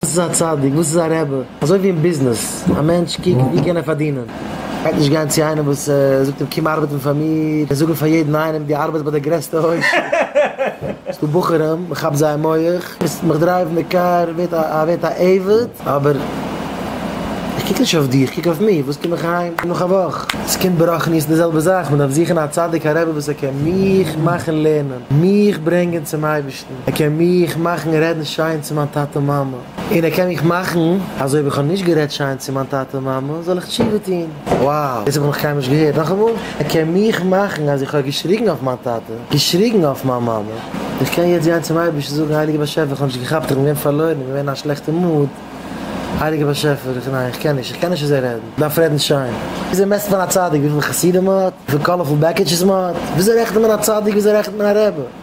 וואס איז א צדיק? וואס איז א רבי? אזוי ווי אין ביזנעס, א מענטש קוקט ווי קען ער פארדינען, ער גייט נישט גיין צו איינעם וואס זאגט אים קום ארבעטן פאר מיר, און זאגן פאר יעדן איינעם דו ארבעטסט ביי די גרעסטע הויז, ס'איז דא בחורים מען כאפט זייער מח, ביסט מיך דרייוון די קאר ווערט א ווערט א עבד, אבער איך קוק נישט אויף דיר איך קוק אויף מיר, וואס קום איך אהיים נאך א וואך, עס קומט ברחניות די זעלבע זאך, מען דארף זוכן א צדיק א רבי וואס ער קען מיך מאכן לערנען, מיך ברענגען צום אייבערשטן. ער קען מיך מאכן רעדן שיין צו מיין טאטע מאמע, און ער קען מיך מאכן אז אויב איך האב נישט גערעדט שיין צו מיין טאטע מאמע זאל איך תשובה טון, wow דאס האב איך נאך קיינמאל נישט געהערט, נאכאמאל, ער קען מיך מאכן אז איך האב געשריגן אויף מיין טאטע, געשריגן אויף מיין מאמע, איך קען יעצט גיין צום אייבערשטן זאגן הייליגער באשעפער איך האב נישט געכאפט איך בין געווען פארלוירן איך בין געווען אין א שלעכטע מוד, הייליגער באשעפער איך ניין איך קען נישט איך קען נישט אזוי רעדן, דארף רעדן שיין, וויאזוי מעסט מען א צדיק וויפיל חסידים ער האט, וויפיל קאלערפול בעקיטשעס מען האט, וויאזוי רעכנט מען א צדיק וויאזוי רעכנט מען א רעבע.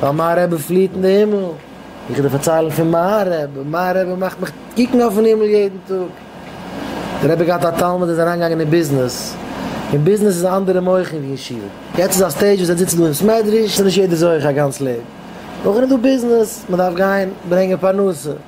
ווייל מיין רבי פליעט אין די הימל, איך וועל דיר פארציילן פון מיין רבי, מיין רבי מאכט מיך קוקן אויפן הימל יעדן טאג. דער רבי האט געהאט א תלמיד איז אריינגעגאנגען אין ביזנעס, אין ביזנעס איז אנדערע מוחין ווי אין שול, יעצט איז א סטעידזש וואס ער זיצט דא אין סמעדריש, ס'נישט יעדער זוכה א גאנץ לעבן, נאכדעם איז דא ביזנעס, מ'דארף גיין ברענגען פרנסה.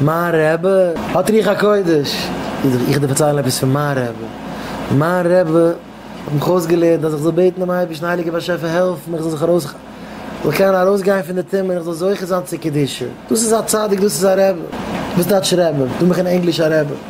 מיין רעבע האט רוח הקודש, איך דיר פארציילן עפעס פון מיין רעבע, מיין רעבע האט מיך אויסגעלערנט אז איך זאל בעטן דעם אייבערשטן הייליגער באשעפער העלף מיך איך זאל זיך ארויס איך זאל קענען ארויסגיין פון די טומאה און איך זאל זוכה זיין צו קדושה, דאס איז א צדיק דאס איז א רעבע, וואס טייטש רעבע? דא מיך אין ענגליש א רעבע.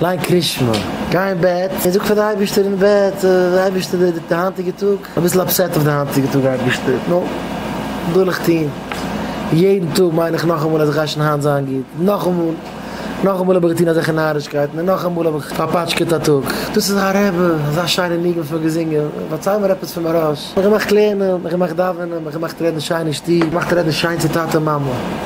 ליין קרית שמע, גיי אין בעט און זאג פאר די אייבערשטער אין בעט, אייבערשטער די די היינטיגע טאג, אביסל אפסעט אויף די היינטיגע טאג אייבערשטער, נו, וואס זאל איך טון, יעדן טאג מיין איך נאכאמאל אז איך גיי שוין היינט זיין גוט, נאכאמאל, נאכאמאל האב איך געטון אזעלכע נארישקייטן, און נאכאמאל האב איך פארפאטשקעט א טאג. דאס איז א רעבע, אזא שיינע ניגון פון געזינגען, פארצייל מיר עפעס פון מהרש, מיך געמאכט לערנען, מיך געמאכט דאווענען, מיך געמאכט רעדן שיין אין שטוב, געמאכט רעדן שיין צו טאטע מאמע.